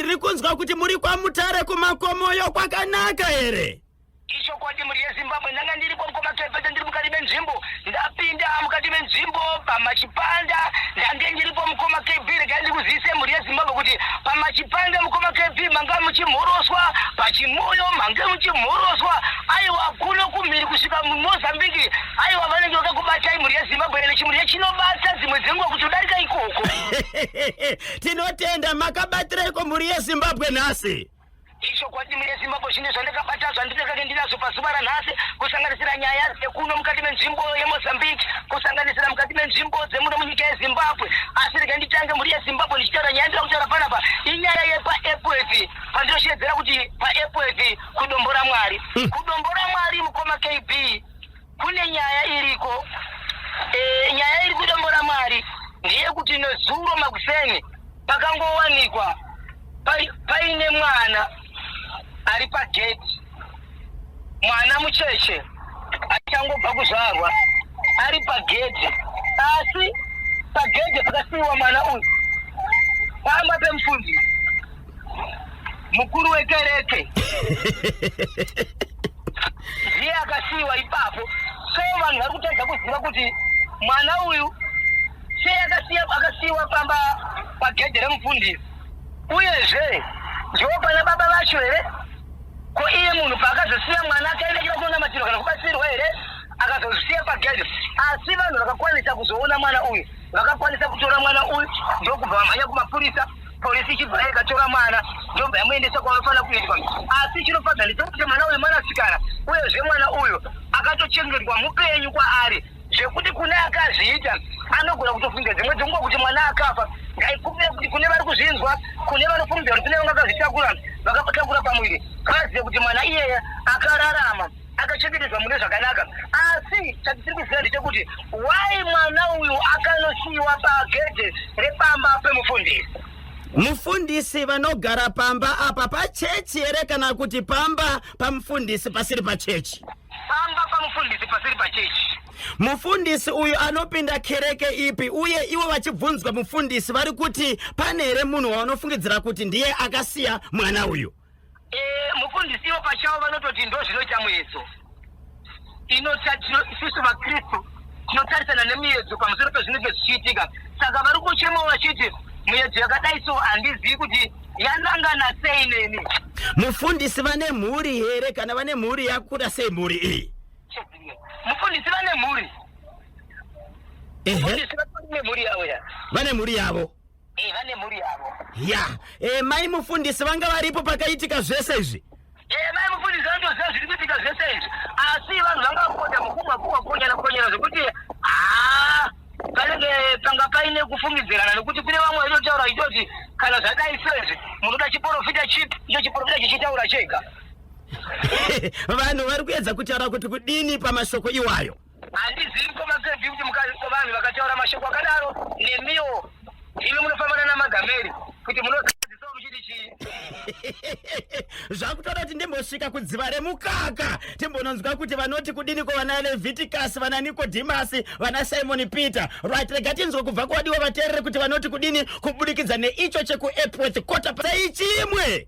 tiri kunzwa kuti muri kwamutare kumakomoyo kwakanaka here ichokwadi mhuri yezimbabwe ndanga ndiripo mukomakepete ndiri mukati menzvimbo ndapinda mukati menzvimbo pamachipanda ndange ndiripo mukoma kb regai ndiri kuzivise mhuri yezimbabwe kuti pamachipanda mukoma kb manga muchimhoroswa pachimoyo mange muchimhoroswa aiwa kuno kumhiri kusvika mumozambiki aiwa vanenge vakakubatai mhuri yezimbabwe ene chimhuri yechinobata dzimwe dzenguva kuti udarika ikoko tinotenda makabatireko mhuri yezimbabwe nhasi ichokwadi mhuri yezimbabwe zvine zvandakabata zvandinekake ndinazvo pazuva ranhasi kusanganisira nyaya dzekuno mukati menzvimbo yemozambique kusanganisira mukati menzvimbo dzemuno munyika yezimbabwe asi rega nditange mhuri yezimbabwe ndichitaura nyaya ndira kutaura panapa inyaya yepaepwf pandinoshedzera kuti paepwf kudombora mwari hmm. kudombora mwari mukoma kb Kune nyaya iriko e, nyaya iri kudombo ramwari ndeyekuti nezuro makuseni pakangowanikwa paine mwana ari pageti mwana mucheche achangobva kuzvarwa ari pagedhi asi pagedhi pakasiiwa mwana uyu pamba pemufundisi mukuru wekereke ndiye akasiiwa ipapo so vanhu vari kutadza kuziva kuti mwana uyu sei akasiiwa pamba pagedhe remufundisi uyezve ndiwo pana baba vacho here ko iye munhu paakazosiya mwana akaenda kira kunonamatiro kana kubatsirwa here akazozisiya pagedhe asi vanhu vakakwanisa kuzoona mwana uyu vakakwanisa kutora mwana uyu ndokubva vamhanya kumapurisa Polisi ichibva yakatora mwana ndobva yamuendesa kwavanofanira kuendwa. Asi chinofadza ndechekuti mwana uyu mwanasikana uyezve mwana uyu akatochengetwa mupenyu kwaari zvekuti kune akazviita anogona kutofunga dzimwe dzenguva kuti mwana akafa ngaikumbira kuti kune vari kuzvinzwa kune vanofunga kuti kune vanga vakazvitakura vakatakura pamuviri vazive kuti mwana iyeye akararama akachengetedzwa mune zvakanaka asi chatisiri kuziva ndechekuti why mwana uyu akanosiyiwa pagedhe repamba pemufundisi mufundisi vanogara pamba apa pachechi here kana kuti pamba pamufundisi pasiri pachechi pamba pamufundisi pasiri pachechi mufundisi uyu anopinda kereke ipi uye ivo vachibvunzwa mufundisi vari kuti pane here munhu wavanofungidzira kuti ndiye akasiya mwana uyu Eh, mufundisi ivo pachavo vanototi ndozvinoita muedzo inota tino- isusu vakristu tinotarisana nemuedzo pamusoro pezvinenge zvichiitika saka vari kuchemawo vachiti muedzo yakadai so handizivi kuti yanangana sei neni mufundisi vane mhuri here kana vane mhuri yakuda sei mhuri iyi mufundisi vane mhuri ehe mufundisi vatori nemhuri yavo ya vane mhuri yavo Eh, vane mhuri yavo. ya e, mai mufundisi vanga varipo pakaitika zvese izvi Eh, mai mufundisi vanotoziva zviri kuitika zvese izvi. Asi vanhu vanga vakupota mukumwa kumwa konyana konyana zvekuti haa panenge panga paine kufungidzirana nekuti kune vamwe vaitotaura vachitoti kana zvadai sezvi munoda chiporofita chipi icho chiporofita chichitaura chega. vanhu vari kuedza kutaura kuti kudini pamashoko iwayo Handizivi koma sevi kuti mukati kovanhu vakataura mashoko akadaro nemiwo imi munofambana namagameri kuti munozisawo muchiti chii zvakutoda kuti ndimbosvika kudziva remukaka timbononzwa kuti vanoti kudini kuvana leviticus vana nikodhimasi vana simoni peter right rega tinzwe kubva kwadiwa vateerere kuti vanoti kudini kubudikidza neicho chekuepworth kota seichimwe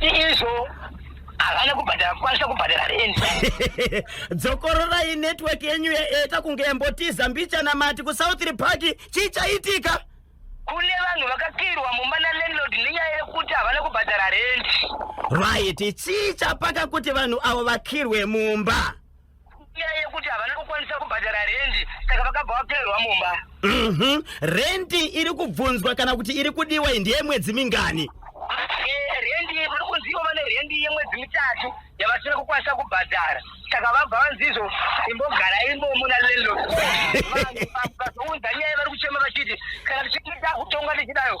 izvo havana kubhadhara kukwanisa kubhadhara rendi dzokororai network yenyu yaeta kunge yambotiza mbichana mati kusouth repark chii chaitika kune vanhu vakakirwa mumba nalandlord nenyaya yekuti havana kubhadhara rendi right chii chapaka kuti vanhu avo vakirwe mumba Nyaya yekuti havana kukwanisa kubhadhara rendi saka vakabva vapererwa mumba. Mhm. Rent iri kubvunzwa kana kuti iri kudiwa iyi ndeye mwedzi mingani? Eh, Rendi vari kunzi ivo vane rendi yemwedzi mitatu yavasina kukwanisa kubhadhara saka vabva vanzi izvo imbogarai imomo nalandlord. Vanhu vazounza nyaya vari kuchema vachiti kana tichiti takutonga tichidayo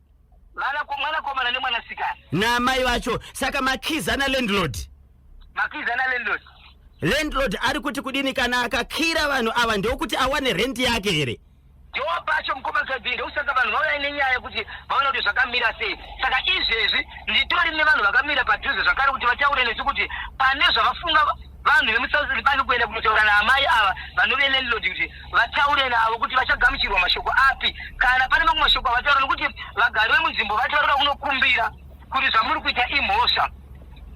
mwanakomana nemwanasikana naamai vacho saka makiza nalandlord makiza nalandlord landlord ari kuti kudini kana akakira vanhu ava ndokuti awane rent yake here ndiwo pacho mukomakadzi ndokusaka vanhu vauya nenyaya yekuti vaona kuti zvakamira sei saka izvezvi nditori nevanhu vakamira padhuze zvakare kuti vataure nesu kuti pane zvavafunga Vanhu vemuSouth Lipani kuenda kunotaura naamai ava vanove landlord kuti vataure navo kuti vachagamuchirwa mashoko api kana pane mamwe mashoko avataura nokuti vagari vemunzvimbo vati vanoda kunokumbira kuti zvamuri kuita imhosva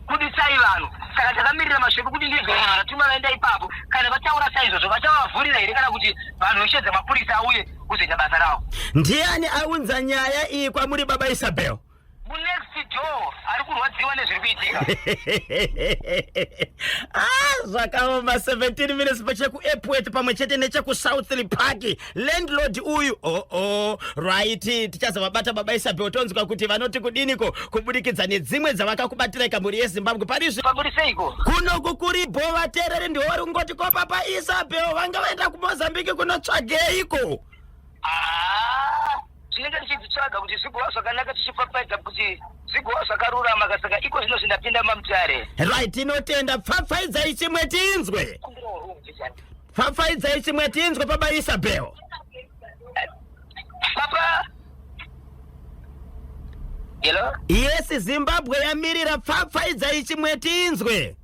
budisai vanhu saka takamirira mashoko kuti ndizvo vanhu vanatuma vaenda ipapo kana vataura saizvozvo vachavavhurira here kana kuti vanhu veshedza mapurisa auye kuzoita basa ravo ndiani aunza nyaya iyi kwamuri baba isabel munext door ari kurwadziwa nezviri kuitika ah, zvakaoma 17 minutes pachekuepwet pamwe chete nechekusouthly park landlord uyu oo oh, oh, right tichazovabata baba isabe otonzwa kuti vanoti kudiniko kubudikidza nedzimwe dzavakakubatira ikamhuri yezimbabwe parizvi pakuri seiko kuno kukuri bho vateereri ndiwo vari kungoti ko papa isabel vanga vaenda kumozambiki kunotsvageiko ah. tinenge tichidzitsvaga kuti zvigowa zvakanaka tichipfapfaidza kuti zvigowa zvakarurama kasaka iko zvino zvindapinda mamutare right tinotenda pfapfaidzai chimwe tinzwe pfapfaidzai chimwe tinzwe baba isabel papa hello yes zimbabwe yamirira pfapfaidzai chimwe tinzwe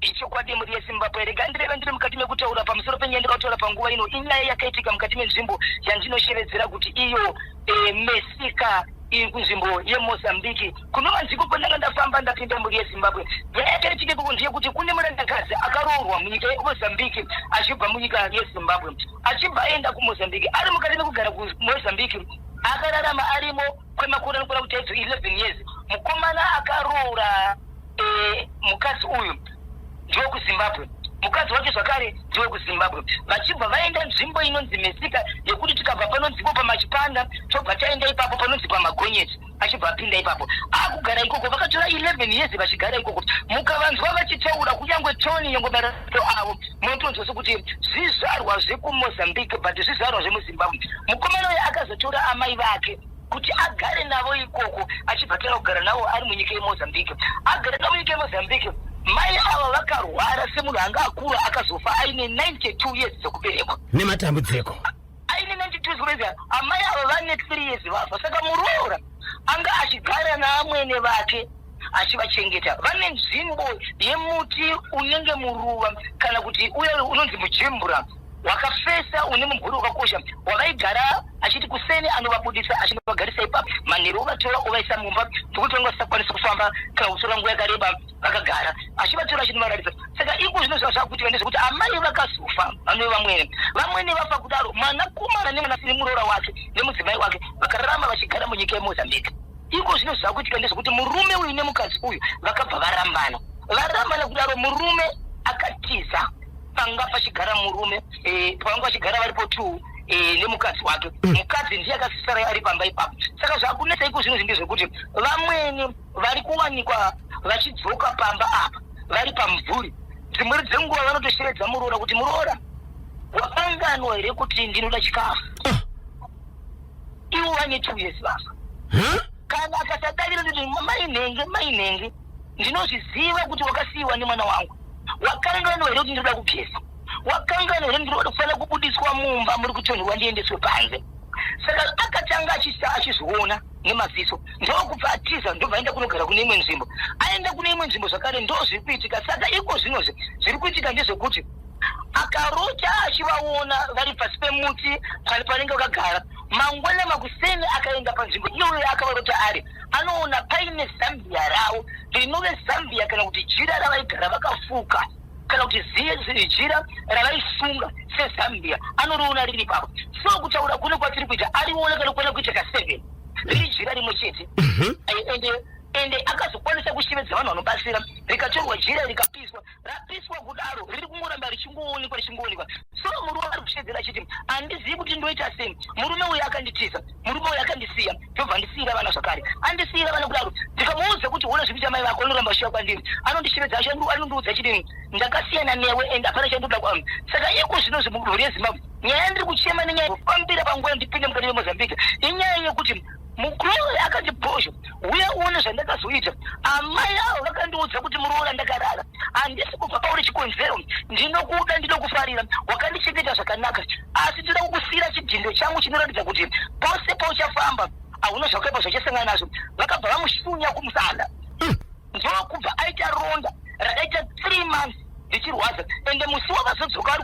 Ichokwadi mhuri yeZimbabwe, rega ndireve ndiri mukati mekutaura pamusoro penyaya ndikataura panguva ino. Inyaya yakaitika mukati menzvimbo yandinoshevedzera kuti iyo e, mesika iri kunzvimbo yemozambique kuno vanziko kwandanga ndafamba ndapinda mhuri yezimbabwe nyaya yakaitika ikoko ndeyekuti kune murandakadzi akaroorwa munyika yemozambique achibva munyika yezimbabwe achibva aenda kumozambique ari mukati mekugara kumozambique akararama arimo kwemakore anokwana kuti aidzo 11 years mukomana akaroora eh, mukadzi uyu ndiwe kuzimbabwe mukadzi wacho zvakare ndiwe kuzimbabwe vachibva vaenda nzvimbo inonzi mesika yekuti tikabva panonzipo pamachipanda tobva taenda ipapo panonzi pamagonyeti achibva apinda ipapo akugara ikoko vakatora 11 years vachigara ikoko mukavanzwa vachitaura kunyange tony yongomera so avo motonzwa sokuti zvizvarwa zvekumozambique but zvizvarwa zvemuzimbabwe mukomana uyo akazotora amai vake kuti agare navo ikoko achibhatira kugara navo ari munyika yemozambique agare navo munyika yemozambique mai ava vakarwara semunhu anga akura akazofa aine 92 years dzekuberekwa nematambudziko aine 92 zvikurevya amai ava vane 3 years vafa saka muroora anga achigara naamwene vake achivachengeta vane nzvimbo yemuti unenge muruva kana kuti uye unonzi mujimbura wakafesa une mumvuri wakakosha wavaigara achiti kuseni anovabudisa achinovagarisa ipapo manheru ovatora ovaisa mumba ndokuti vanga vasisakwanisa kufamba kana kutora nguva yakareba vakagara achivatora achinovaratidza saka iko zvinoziva zvakuitika ndezvekuti amai vakazofa vanove vamwene vamwene vafa kudaro mwanakomana nemwanasikiri muroora wake nemudzimai wake vakararama vachigara munyika yemozambique iko zvino zvakuitika ndezvekuti murume uyu nemukadzi uyu vakabva varambana varambana kudaro murume akatiza panga pachigara murume eh, panga pachigara varipo two eh, nemukadzi wake mm. mukadzi ndiye akasisara ari pamba ipapo saka zvakunetsa iko zvino zvindezvekuti vamwene vari kuwanikwa vachidzoka pamba apa vari pamumvuri dzimweri dzenguva vanotosheredza muroora kuti muroora wakanganwa here kuti ndinoda chikafu ah. iwo wane two years basa kana akasadavira nditi mainhenge mainhenge ndinozviziva kuti wakasiyiwa nemwana wangu wakanganwa here kuti ndinoda kugeza wakanganwa here ndinoda kufanira kubudiswa mumba muri kutonherwa ndiendeswe panze saka akatanga achizviona nemaziso ndokubva atiza ndobva aenda kunogara kune imwe nzvimbo aenda kune imwe nzvimbo zvakare ndo zviri kuitika saka iko zvinozve zviri kuitika ndezvekuti akarota achivaona vari pasi pemuti pari panenge vakagara mangwana makuseni akaenda panzvimbo iyoyo akavarota ari anoona paine zambia ravo rinove zambia kana kuti jira ravaigara vakafuka kana kuti jira ravaifunga sezambia anoriona riri papa so kutaura kune kwatiri kuita ariona kana kuona kuita ka seven riri jira rimwe chete mhm. ende uh -huh ende akazokwanisa kushevedza vanhu vanobatsira rikatorwa jira rikapiswa rapiswa kudaro riri kungoramba richingoonekwa richingoonekwa so murume ari kushedzera achiti handizivi kuti ndoita sei murume uyu akanditiza murume uyu akandisiya ndobva andisiira vana zvakare andisiira vana kudaro ndikamuudza kuti hona zvikuita mai vako anoramba chiya kwandiri anondishevedza anondiudza chidini ndakasiyana newe and hapana chandoda kwam saka iko zvino zvemudunhu rezimbabwe nyaya yandiri kuchema nenyaya pambira panguva ndipinde mukati vemozambique inyaya yekuti mukuroyi akati bhozho uye uone zvandakazoita amai avo vakandiudza kuti muroora ndakarara handisi kubva pauri chikonzero ndinokuda ndinokufarira wakandichengeta zvakanaka asi tinoda kukusiira chidhindo changu chinoratidza kuti pose pauchafamba hauna zvakaipa zvachasangana nazvo vakabva vamushunya kumusana hmm. ndokubva aita ronda rakaita three months ndichirwadza ende musi wavazodzoka ari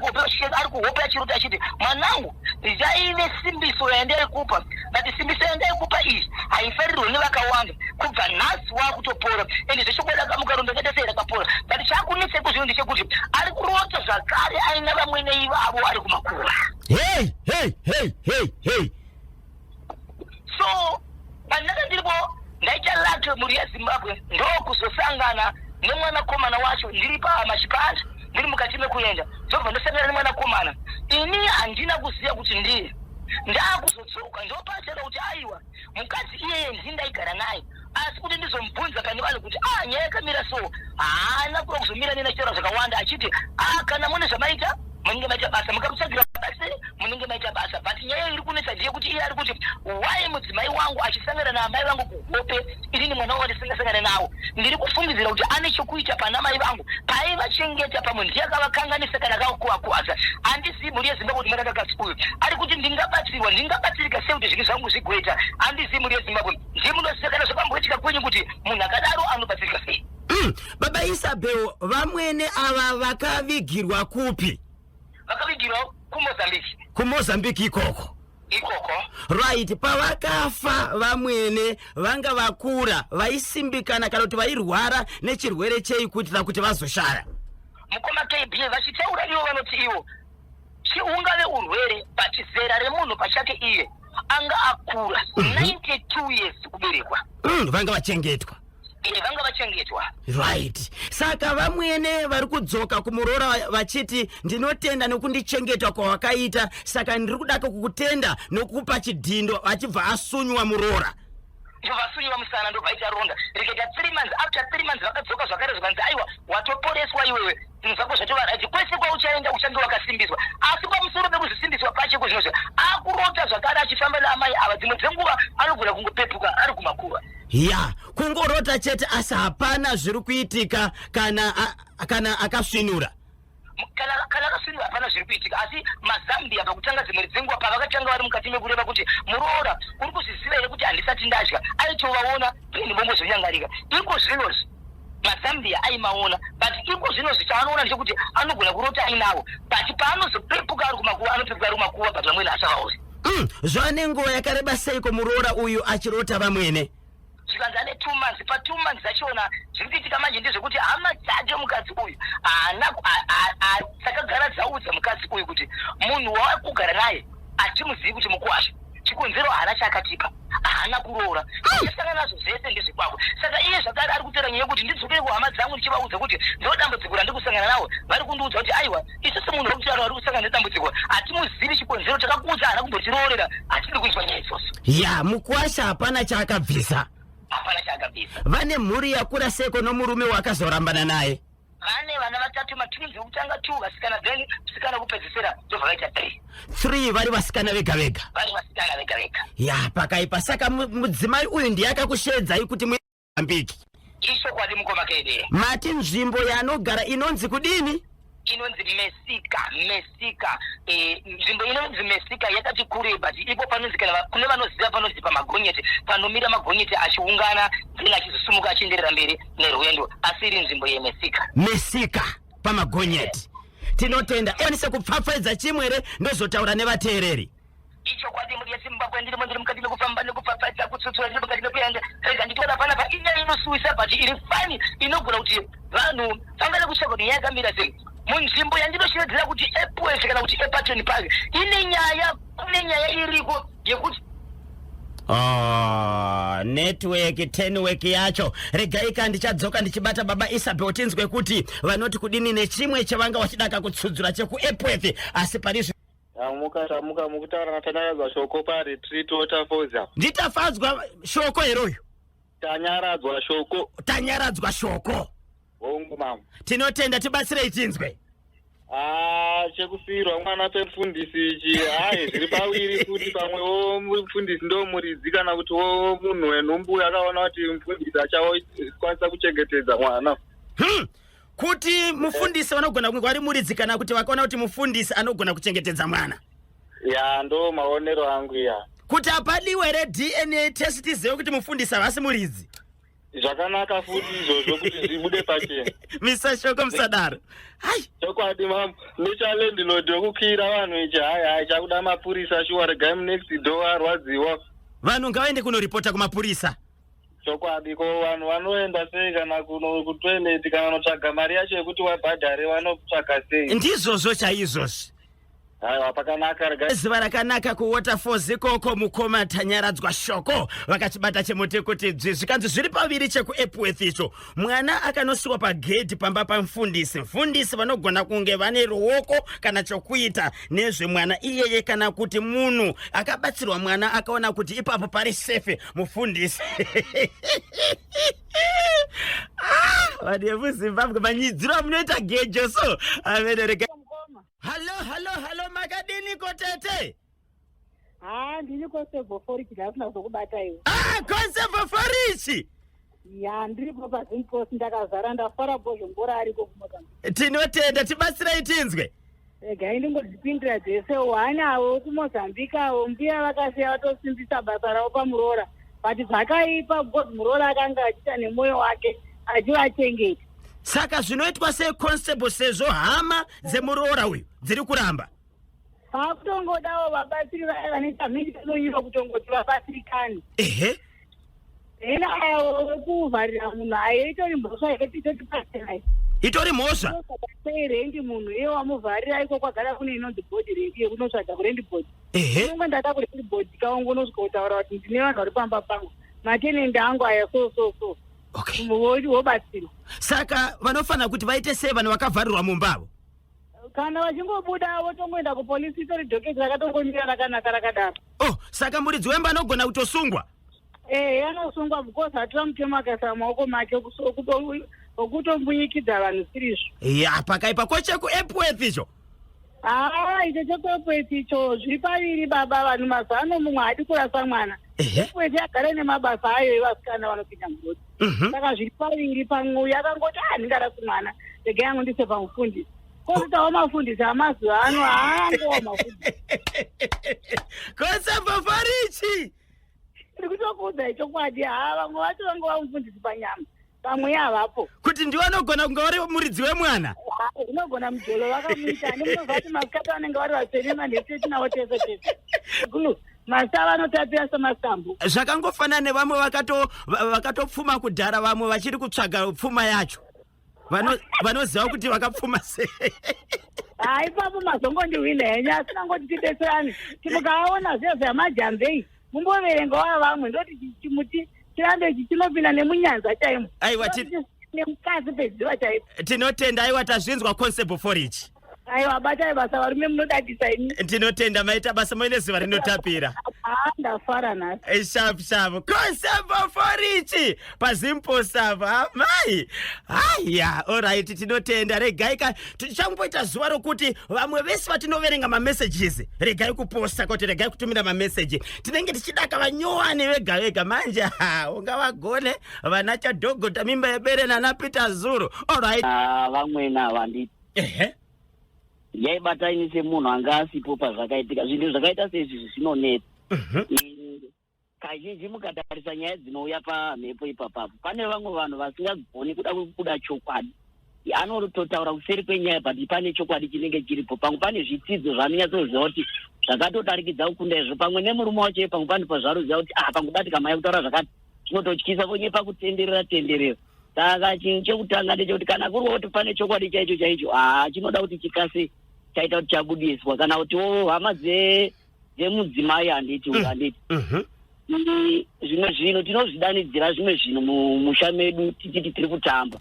kuhope achirota achiti mwanangu ndaive simbiso yandiri kupa but simbiso yanga yekupa iyi haifarirwe nevakawanda kubva nhasi waakutopora and zvechokwadi akamuka rondo akaita sei rakapora but chakunetsa kuzvino ndechekuti ari kurota zvakare aina vamwene ivavo ari kumakura hey, hey, hey, hey, hey. so pandakandiripo ndaita lake mhuri yezimbabwe ndokuzosangana nemwanakomana wacho ndiri pamachipanda ndiri mukati mekuenda ndobva ndosangana nemwanakomana ini handina kuziva kuti ndiye ndaakuzodzoka ndopachada kuti aiwa mukadzi iyeye ndii ndaigara naye asi kuti ndizomubvunza kani vanhu kuti a ah, nyaya yakamira so haana kuda kuzomira nena chitaura zvakawanda achiti a ah, kana mune zvamaita munenge maita basa mukamutsvagira basa munenge maita basa but nyaya iri kunetsa ndiye kuti iye ari kuti why mudzimai wangu achisangana naamai vangu kuhope inini mwana wangu ndisingasangana nawo ndiri kufungidzira kuti ane chokuita pana mai vangu paivachengeta pamwe ndiye akavakanganisa kana kakuvakuvadza handizivi mhuri yezimbabwe kuti marakakasi uyu ari kuti ndingabatsirwa ndingabatsirika sei kuti zvinhu zvangu zvigoita handizivi mhuri yezimbabwe ndiye munoziva kana zvapamboitika kwenyu kuti munhu akadaro anobatsirika sei Mm, baba Isabel vamwene ava vakavigirwa kupi? Vakavigirwa kuMozambique. KuMozambique ikoko. Ikoko. Right, pavakafa vamwene vanga vakura, vaisimbikana kana kuti vairwara nechirwere chei kuitira kuti vazoshaya. Mukoma KB vachitaura ivo vanoti ivo Chiungave urwere but zera remunhu pachake iye anga akura 92 mhm. years kuberekwa. Mm, vanga vachengetwa. Iye vanga vachengetwa. Right. Saka vamwene vari kudzoka kumuroora vachiti ndinotenda nokundichengeta kwawakaita saka ndiri kudaka kukutenda nokukupa chidhindo achibva asunywa muroora. ndovasunyiwa musana ndovaita ronda rikaita three months after three months vakadzoka zvakare zvikanzi aiwa watoporeswa iwewe zvinhu zvako zvatovaraji kwese kwauchaenda uchange wakasimbiswa asi pamusoro pekuzvisimbiswa pache kuzvinozvo akurota zvakare achifamba naamai ava dzimwe dzenguva anogona kungopepuka ari kumakuva ya kungorota chete asi hapana zviri kuitika kana kana akasvinura kana kana kaswiri hapana zviri kuitika asi mazambia pakutanga dzimwe dzenguva pavakatanga vari mukati mekureva kuti muroora uri kuzviziva here kuti handisati ndadya aitovaona pindi vongozvinyangarika iko zvinozvi mazambia aimaona but iko zvino zvichaanoona ndechekuti anogona kurota ainavo but paanozopepuka ari kumakuva anopepuka ari kumakuva but vamwene asavaozi mm, zvaane nguva yakareba seiko muroora uyu achirota vamwene zvikanzi ane two months pa two months zvachiona zviri kuitika manje ndezvekuti hama dzake mukadzi uyu haana dzakagara dzaudza mukadzi uyu kuti munhu wavari kugara naye hatimuzivi kuti mukuwasha chikonzero haana chaakatipa haana kuroora asangana nazvo zvese ndezvekwako saka iye zvakare ari kutora nyaya yekuti ndidzokere kuhama dzangu ndichivaudza kuti ndodambudziko randikusangana nawo vari kundiudza kuti aiwa isu semunhu wekucharo ari kusangana nedambudziko hatimuzivi chikonzero takakuudza haana kumbotiroorera hatidi kunzwa nyaya idzoso ya mukwasha hapana chaakabvisa hapana chaakabvisa vane mhuri yakura seko nomurume wakazorambana naye vane vana vatatu matunzi wekutanga two vasikana then musikana wekupedzisira ndobva vaita three three vari vasikana vega vega vari vasikana vega vega ya pakaipa saka mudzimai uyu ndiye akakusheedzai kuti Mozambique. Ichokwadi mukoma Kede. Mati nzvimbo yaanogara inonzi kudini? inonzi mesika mesika eh, nzvimbo e, inonzi mesika yakati kure but ipo panonzi kana kune vanoziva panonzi pamagonyeti panomira magonyeti achiungana then achizosumuka achienderera mberi nerwendo asi iri nzvimbo yemesika mesika pamagonyeti tinotenda onise kupfapfaidza chimwere ndozotaura nevateereri ichokwadi muri yezimbabwe ndirimo ndiri mukati mekufamba nekupfapfadza kutsutsura ndiri mukati mekuenda rega nditoona pana pa inyaya inosuwisa but iri fani inogona kuti vanhu vangada kutsvaga kuti nyaya yakamira sei munzvimbo yandinoshevedzera kuti epwese kana kuti epatoni park ine nyaya kune nyaya iriko yekuti Oh, network tenwork yacho regaika ndichadzoka ndichibata baba isabel tinzwe kuti vanoti kudini nechimwe chavanga vachidaka kutsudzura chekuepworth asi parizvi Tamuka tamuka mukutaura naTanyaradzwa shoko paretreat waterfalls apa. Nditafadzwa shoko here uyu? Tanyaradzwa shoko. Tanyaradzwa shoko. Hongu mama. Tinotenda tibatsirei tinzwe. Ah, chekufirwa mwana pemfundisi ichi hayi zviri paviri kuti pamwe wo mfundisi ndo muridzi kana kuti wo munhu wenhumbu akaona kuti mfundisi achakwanisa kuchengetedza mwana. Hmm. kuti mufundisi vanogona kunge vari muridzi kana kuti vakaona kuti mufundisi anogona kuchengetedza mwana ya ndo maonero angu ya kuti hapadiwe here dna test tizive kuti mufundisi havasi muridzi zvakanaka futi izvozvo kuti zvibude pachena misa shoko musadaro hai chokwadi mam nechalandlord wekukiira vanhu ichi hai hai chakuda mapurisa shuwa regai munext door arwadziwa vanhu ngavaende kunoripota kumapurisa Chokwadi ko vanhu vanoenda sei kana kuno kutoilet kana vanotsvaga mari yacho yekuti wabhadhare vanotsvaga sei? Ndizvozvo chaizvozvo. Aiwa pakanaka rega. Zuva rakanaka kuWaterfalls ikoko mukoma Tanyaradzwa Shoko vakachibata chemoto kuti dzvi zvikanzi zviri paviri chekuEpworth icho mwana akanosiwa pagedhi pamba pamfundisi mfundisi vanogona kunge vane ruoko kana chokuita nezvemwana iyeye kana kuti munhu akabatsirwa mwana akaona kuti ipapo pari sefe mufundisi ah, vanhu vemuzimbabwe manyidziro amunoita gejo so averereka halo halo halo makadiniko tete haa ndiri kosevhoforichi ndasina kuzokubata iwe ah kosevhoforichi ya ndiripo pazimpost ndakazara ndafara bozvo mbora ariko kumoka tinotenda tibatsirai tinzwe regai ndingodzipindira dzese wanawo kumozambique avo mbuya vakasiya vatosimbisa basa ravo pamuroora but zvakaipa because muroora akanga achiita nemwoyo wake achivachengeta saka zvinoitwa sei constable sezvo hama dzemuroora uyu dziri kuramba Vakutongodawo vabatsiri vaya vanoita mhindiro kutongoti vabatsirikani. Ehe. Hena awo wekuvharira munhu aye itori mhosva here titoti paserai. Itori mhosva. Sei rendi munhu iye wamuvharira iko kwagara kune inonzi body rendi yekunotsvaga kurendi body. Ehe. Kunge ndada kurendi body kaungu unosvika kutaura kuti ndine vanhu vari pamba pangu. Matenende angu aya so so so. Okay. Wobatsirwa. Saka vanofanira kuti vaite sei vanhu vakavharirwa mumba avo? kana vachingobuda votongoenda kupolisi itori dhoketi rakatongomira rakanaka rakadaro oh saka muridzi wemba anogona kutosungwa ee eh, anosungwa because hatina mutemo akaisa maoko make okutombunyikidza vanhu sirizvo ya pakaipa ko chekuepworth icho haa icho chekuepworth icho zviri paviri baba vanhu mazano mumwe haadi kurasa mwana epworth yagara nemabasa ayo evasikana vanopinda mugoti Mhm. saka zviri paviri pamwe uyu akangoti ah ndingada kumwana rega yangu ndise pamufundisi kozitawo mafundisi amazuva ano haangowa mafundisi Kosefa Farichi. ndiri kutokuudza ichokwadi haa vamwe vacho vange vamufundisi panyama vamwe yavapo Kuti ndiwe anogona kunge vari muridzi wemwana. Ah, unogona mujolo vakamuita ane munozvati masikati vanenge vari vatsvene manheseti navo tese tese Gulu, Masava anotapira semasambo. Zvakangofanana nevamwe vakato vakatopfuma kudhara vamwe vachiri kutsvaga pfuma yacho. Vano vanoziva kuti vakapfuma sei. Ah, ipapo mazongondihwina henyu asi nangoti tibetserane. Timukaona zve zvamajambei. Mumboverenga wa vamwe ndoti chimuti chirambe ichi chinopinda nemunyanza chaimo. Aiwa ti nemukadzi pedziva chaipo. Tinotenda aiwa tazvinzwa concept for ichi. aiwa batai basa varume munodadisa ini tinotenda maita basa moine zuva rinotapira haa ndafara nhasi Eh, shapu shapu kosebo forichi pazimposapo amai haya orit tinotenda regai ka tichangoita zuva rokuti vamwe vese vatinoverenga mamessages regai kuposta kuti regai kutumira mameseji tinenge tichida ka vanyowani vega vega manje ha unga vagone vana chadhogota mimba yebere nana peter zuro orit Ah, vamwene ava ndi- ehe yaibata ini semunhu anga asipo pazvakaitika zvinhu zvakaita seizvizvi zvinonetsa Mhm. Mm, kazhinji mukatarisa nyaya dzinouya pamhepo ipapapo pane vamwe vanhu vasingagoni kuda kuda chokwadi anototaura kuseri kwenyaya but pane chokwadi chinenge chiripo pamwe pane zvitidzo zvaanonyatsoziva kuti zvakatodarikidza kukunda izvo pamwe nemurume wacho iye pamwe pane pazvaruziva kuti ah pamwe kubatika maya kutaura zvakati zvinototyisa vonyepa kutenderera tenderera saka chinhu chekutanga ndechekuti kana kuri kuti pane chokwadi chaicho chaicho haa chinoda kuti chikase chaita kuti chabudiswa kana kuti wo hama dze- dzemudzimai handiti uyu handiti Mhm. Ndi- zvimwe zvinhu tinozvidanidzira zvimwe zvinhu mu- musha medu tichiti tiri kutamba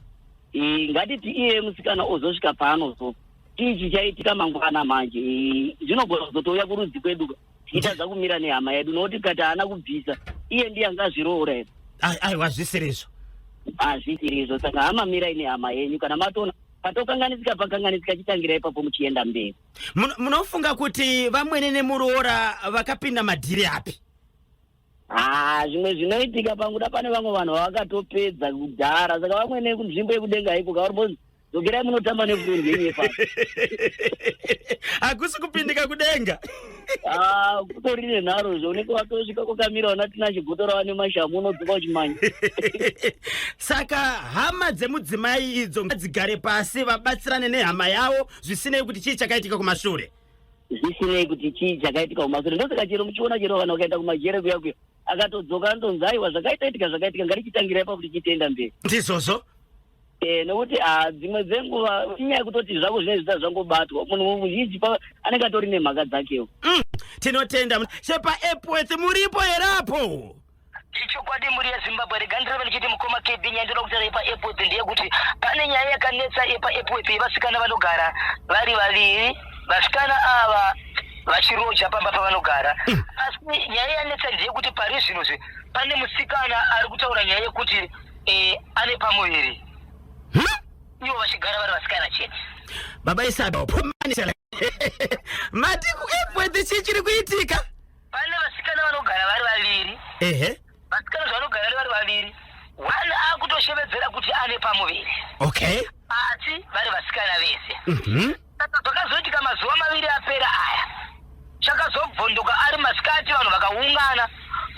Eh, ngatiti iye musikana ozosvika paanozo chii chichaitika mangwana manje Eh, zvinogona kuzotouya kurudzi kwedu tichitadza kumira nehama yedu nokuti kati haana kubvisa iye ndiye anga azviroora here aiwa zvisiri izvo hazvisiri izvo saka hama mirai nehama yenyu kana matoona patokanganisika pakanganisika chitangira ipapo muchienda mberi munofunga kuti vamwene nemuroora vakapinda madhiri api Ah, zvimwe zvinoitika panguda pane vamwe vanhu vavakatopedza kudhara saka vamwe nekunzvimbo yekudenga iko kauribonzi dzokerai munotamba nefurendi yenyu yepasi hakusi kupindika kudenga Ah, kutori nenharo zvo unenge watosvika kokamira ona tina chigoto rava nemashamu unodzoka uchimanya saka hama dzemudzimai idzo ngadzigare pasi vabatsirane nehama yavo zvisinei kuti chii chakaitika kumashure zvisinei kuti chii chakaitika kumasure ndosaka chero muchiona chero vanhu vakaenda kumajere kuya kuya akatodzoka anonzi aiwa zvakaitaitika zvakaitika ngarichitangira ipa kuti chitienda mberi ndizvozvo e, nokuti ah, dzimwe dzenguva inyaya yekutoti zvako zvinenge zvita zvangobatwa munhu muzhinji anenge atori nemhaka dzakewo mm, tinotenda sepaepworth muripo here apo Ichokwadi mhuri yeZimbabwe rega ndireve ndichiti mukoma KB nyaya ndoda kutaura yepaEpworth ndeyekuti pane nyaya yakanetsa yepaEpworth yevasikana vanogara vari vaviri vasikana ava vachiroja pamba pavanogara mm. asi nyaya yanetsa ndeyekuti pari zvino zve pane musikana ari kutaura nyaya yekuti eh, ane pamuviri hmm? ivo vachigara vari vasikana chete baba isabaopomanisela mati kuEpworth chii chiri kuitika pane vasikana vanogara vari vaviri ehe vasikana zvavanogara vari vaviri one akutoshevedzera kuti ane pamuviri okay asi vari vasikana vese mhm saka zvakazoitika mazuva maviri apera aya chakazobvondoka ari masikati vanhu vakaungana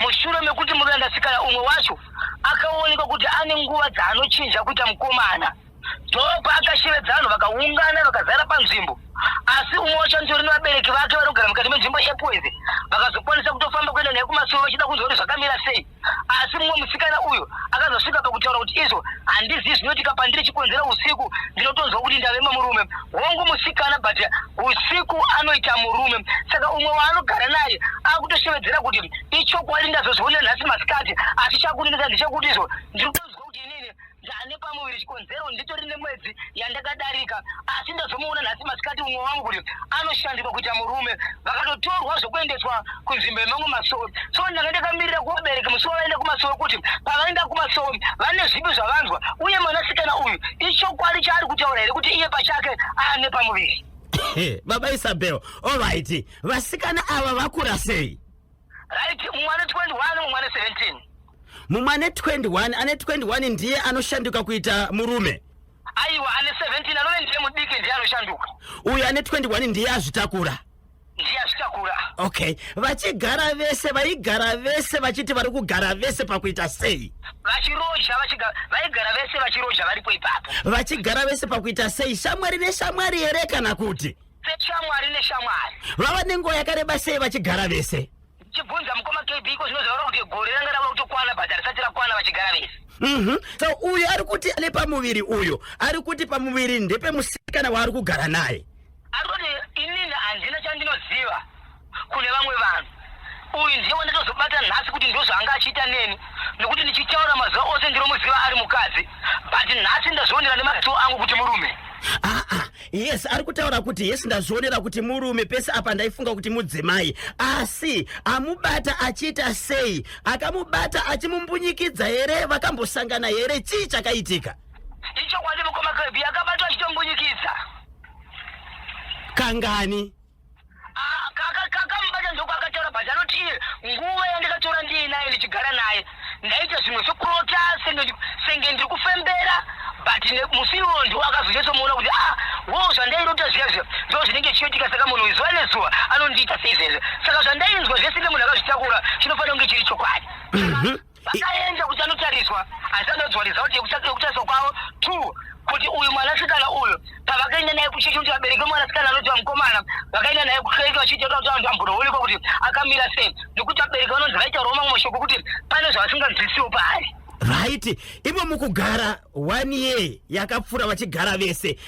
mushure mekuti murume andasikana umwe wacho akaonekwa kuti ane nguva dzaanochinja kuita mukomana Job akashevedza vanhu vakaungana vakazara panzvimbo asi umwe wacho anoti uri nevabereki vake vanogara mukati menzvimbo yepoise vakazokwanisa kutofamba kuenda naye kumasoro vachida kunzwa kuti zvakamira sei asi mumwe musikana uyu akazosvika pakutaura kuti izvo handizivi zvinoitika pandiri chikonzera usiku ndinotonzwa kuti ndave mamurume hongu musikana but usiku anoita murume saka umwe waanogara naye akutoshevedzera kuti ichokwadi ndazozviona nhasi masikati asi chakunenesa ndechekuti izvo ndiri kutonzwa Ndane pamuviri chikonzero nditori nemwedzi yandakadarika asi ndazomuona nhasi masikati umwe wangu kuti anoshandiswa kuita murume vakatotorwa zvokuendeswa kunzvimbo yemamwe masowe so ndanga ndakamirira kuvabereki musi wavaenda kumasowe kuti pavaenda kumasowe vane zvipi zvavanzwa uye mwanasikana uyu ichokwadi chaari kutaura here kuti iye pachake ane pamuviri baba isabel olright vasikana ava vakura sei right mumwe ane 21 mumwe ane 17 mumwe ane 21 ane 21 ndiye anoshanduka kuita murume aiwa ane 17 anove ndiye mudiki ndiye anoshanduka uyu ane 21 ndiye azvitakura ndiye azvitakura okay vachigara vese vaigara vese vachiti vari kugara vese pakuita sei vachiroja vaigara vese vachiroja varipo ipapo vachigara vese pakuita sei shamwari neshamwari here kana kuti Shamwari neshamwari. Vava nenguva yakareba sei vachigara vese? Chibvunza mukoma KB iko zvinozorora kuti gore ranga rava kutokwana but harisati rakwana vachigara vese. Mhm. So uyu ari kuti ane pamuviri uyu ari kuti pamuviri ndepemusikana waari kugara naye. Ari kuti inini handina chandinoziva. kune vamwe vanhu uyu ndiye wanditozobata nhasi kuti ndozvaanga achiita neni nekuti ndichitaura mazuva ose ndinomuziva ari mukadzi but nhasi ndazvionera nemaziso angu kuti murume aa ah, ah, yes ari kutaura kuti yes ndazvionera kuti murume pese apa ndaifunga kuti mudzimai asi amubata achiita sei akamubata achimumbunyikidza here vakambosangana here chii chakaitika ichokwadi mukoma kebi akabatwa achitombunyikidza kangani akamubata ndoko akataura but anoti iye nguva yandakatora ndiye naye ndichigara naye ndaita zvimwe zvekurota senge ndiri kufembera but musi iwowo ndo akazochatomuona kuti a ah, wo zvandairota zviya zviya ndo zvinenge chiyoitika saka munhu zuva nezuva anondiita seizvezve saka zvandainzwa zvese nemunhu akazvitakura chinofanira kunge chiri chokwadi mhm. vakaenda kuti anotariswa asi anodzwa result yekutariswa kwavo two kuti uyu mwanasikana uyu pavakaenda naye kuchechi kuti vabereki vemwanasikana anoti vamukomana vakaenda naye kuchechi vachiitota kuti vanhu vambonoonekwa kuti akamira sei nekuti vabereki vanonzi vaitaurawo mamwe mashoko kuti pane zvavasinganzwisiwo paari right imo mukugara one year yakapfuura vachigara vese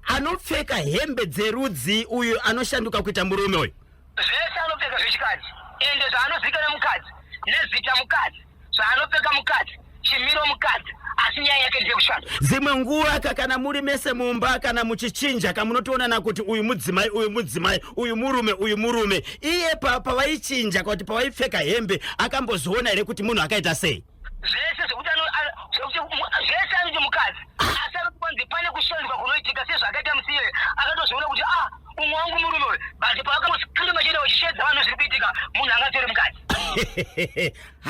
anopfeka hembe dzerudzi uyu anoshanduka kuita murume uyu Zvese anopfeka zvechikadzi ende zvaanozikana mukadzi nezita mukadzi zvaanopfeka mukadzi chimiro mukadzi asi nyaya yake ndeyekushanda. Dzimwe nguva ka kana muri mese mumba kana muchichinja ka munotoonana kuti uyu mudzimai uyu mudzimai uyu murume uyu murume iye pavaichinja pa, kuti pavaipfeka hembe akambozoona here kuti munhu akaita sei? zvese zvekuti zvese anoti mukadzi asi anoti kwanzi pane kushandiswa kunoitika sezvaakaita musiyere akatozviona kuti ah umwe wangu murume uyu but paakamosipinda machida wachishedza vanhu zviri kuitika munhu anga atori mukadzi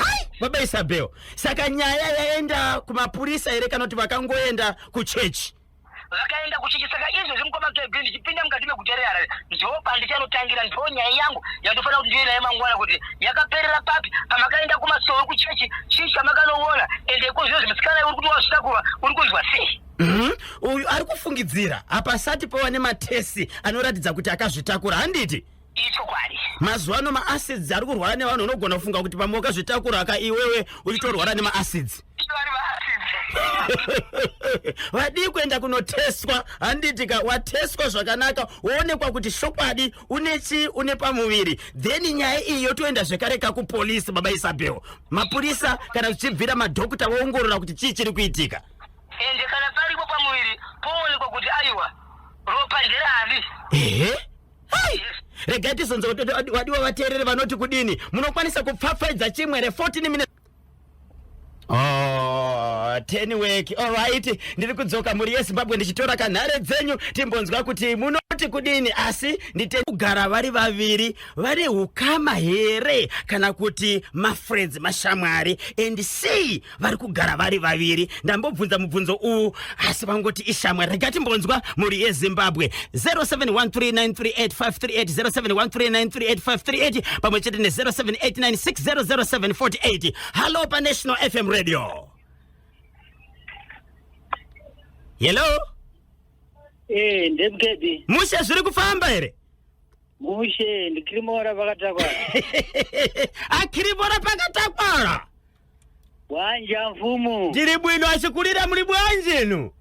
hai baba isabel saka nyaya yaenda kumapurisa here kana kuti vakangoenda kuchechi vakaenda kuchechi saka izvezvi mukoma kb ndichipinda mukati meguta reharare ndopandicanotangira ndo nyaya yangu yandofanira kuti ndive naye mangwana kuti yakaperera papi pamakaenda kumasowe kuchechi chii chamakanoona ende ikozvino zvimusikana uri kuti wazvitakurwa uri kunzwa sei mhm. uyu ari kufungidzira hapasati pova nematesi anoratidza kuti akazvitakura handiti ichokwadi mazuva ano maacids ari kurwara nevanhu unogona kufunga kuti pamwe wakazvitakura ka iwewe uchitorwara nemaacids vadii kuenda kunotestwa handiti ka watestwa zvakanaka woonekwa kuti shokwadi une chii une pamuviri then nyaya iyi yotoenda zvekare ka kupolisi baba isabel mapurisa kana zvichibvira madhokuta voongorora kuti chii chiri kuitika ende kana paripo pamuviri poonekwa kuti aiwa ropa nderani ehe Hai! Regai tizonza kuti wadi- wadiwa vateereri vanoti kudini. Munokwanisa kupfapfaidza chimwe re 14 minutes. Oh, ten work. Alright, ndiri kudzoka mhuri yeZimbabwe ndichitora kanhare dzenyu timbonzwa kuti munoti kudini asi ndite kugara vari vaviri vane ukama here kana kuti mafriends mashamwari and see vari kugara vari vaviri ndambobvunza mubvunzo uwu asi vangoti ishamwa rega timbonzwa mhuri yezimbabwe 0713938538 pamwe chete ne0789600748 hallo panational fm radio hello ee eh, ndemkedi mushe zviri kufamba here mushe ndikirimora pakatakwara akirimora pakatakwara Bwanja mfumu. Ndiri bwino achikulira muli bwanje inu.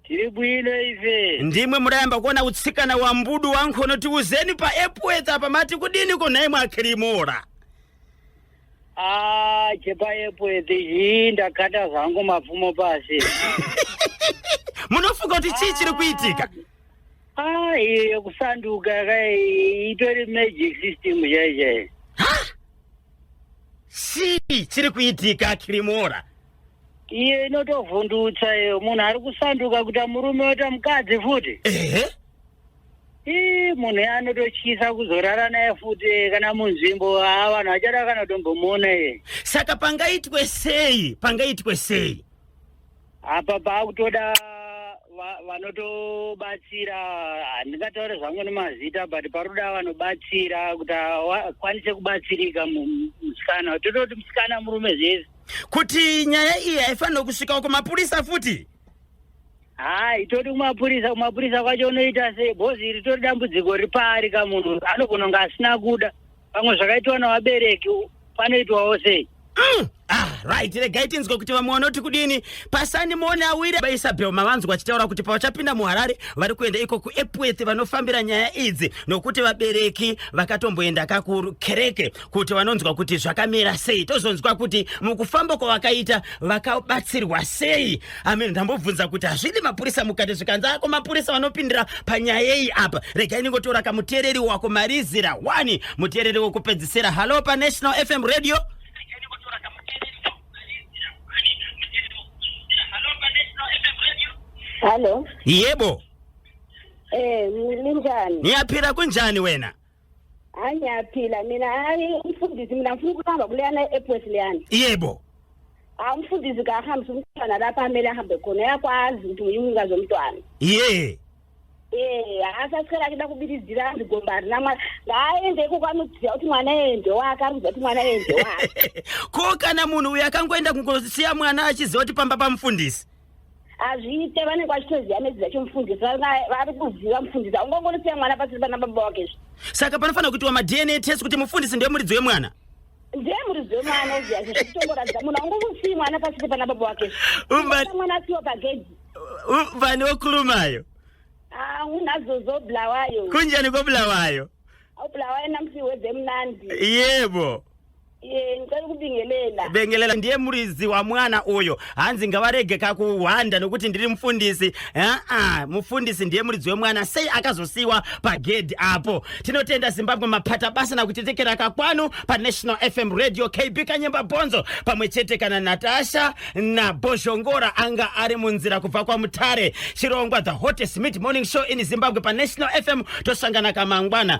Tiri bwino ife. Ndimwe murayamba kuona utsikana wa mbudu wankhono tiuzeni pa Epworth apa mati kudini ko naye mwakirimora. Ah, chepa Epworth iyi ndakata zvangu mapfumo pasi. Munofunga kuti chii chiri kuitika? Ah, iyo yekusanduka kai itori magic system chaichai. chii chiri kuitika kirimora iye inotovhundutsa iyo munhu ari kusanduka kuita murume oita mukadzi futi ehe ii munhu iye anototyisa kuzorara naye futi eh, kana munzvimbo haa vanhu vachada kana kutombomuona iye saka pangaitwe sei pangaitwe sei apa paakutoda va- vanotobatsira handingataure zvangu nemazita but paroda vanobatsira kuti akwanise kubatsirika mu- musikana tototi musikana murume zvese kuti nyaya iyi haifanirwe kusvikawo kumapurisa futi haa itoti kumapurisa kumapurisa kwacho unoita sei bhozi iri tori dambudziko ripaari ka munhu anogona kunge asina kuda pamwe zvakaitwa navabereki panoitwawo sei Mm. Ah, right regai tinzwe kuti vamwe vanoti kudini pasani mone awire vaisabel mavanzwa vachitaura kuti pavachapinda muharare vari kuenda iko kuepworth vanofambira nyaya idzi nokuti vabereki vakatomboenda kakukereke kuti vanonzwa kuti zvakamira sei tozonzwa kuti mukufamba kwavakaita vakabatsirwa sei Amen. Ndambobvunza kuti hazvidi mapurisa mukati zvikanzi ako mapurisa vanopindira panyaya yei apa. Rega inongotora kamuteereri wako marizira wani muteereri wokupedzisira. Halo pa National FM Radio. Halo. Yebo. Eh, ninjani? Niyaphila kunjani wena? hayi ngiyaphila mina hayi umfundisi mina ngifuna ukuhamba kuleyana e-epwes leyana yebo hayi umfundisi kahambisa umntwana lapho amele ahambe khona uyakwazi ukuthi nguye umnikazi womntwana ye ee haasi asicela ke ndakubilizira andigomba harina mwana ngaaende iko kwani ukuziva kuti mwana ende wake ari kuziva kuti mwana ende wake ko kana munhu uyu akangoenda kungosiya mwana achiziva kuti pamba pamufundisi hazviite vanenge vachitoziva medzi dzacho mufundisi vari kuziva mufundisi aungangorisiya mwana pasiri pana baba wake zvi saka panofanira kuitiwa madna test kuti mufundisi ndiye muridzi wemwana ndiye muridzi wemwana oziazvi zvekutongoratidza munhu aungangousii mwana pasiri pana baba wake mwana asiwa pagedhi vane wokulumayo ah, unazozo bulawayo kunjani kobulawayo obulawayo namusi wedzemunandi yebo yeah, Iye ndicari kubingelela. bengelela ndiye muridzi wamwana uyo hanzi ngavarege kakuhwanda nokuti ndiri mufundisi aa mufundisi ndiye muridzi wemwana sei akazosiyiwa pagedhi apo tinotenda zimbabwe mapata basa nakutitekera kakwanu panational fm radio kb kanyemba bhonzo pamwe chete kana natasha nabhozhongora anga ari munzira kubva kwamutare chirongwa the hottest mid morning show in zimbabwe panational fm tosangana kamangwana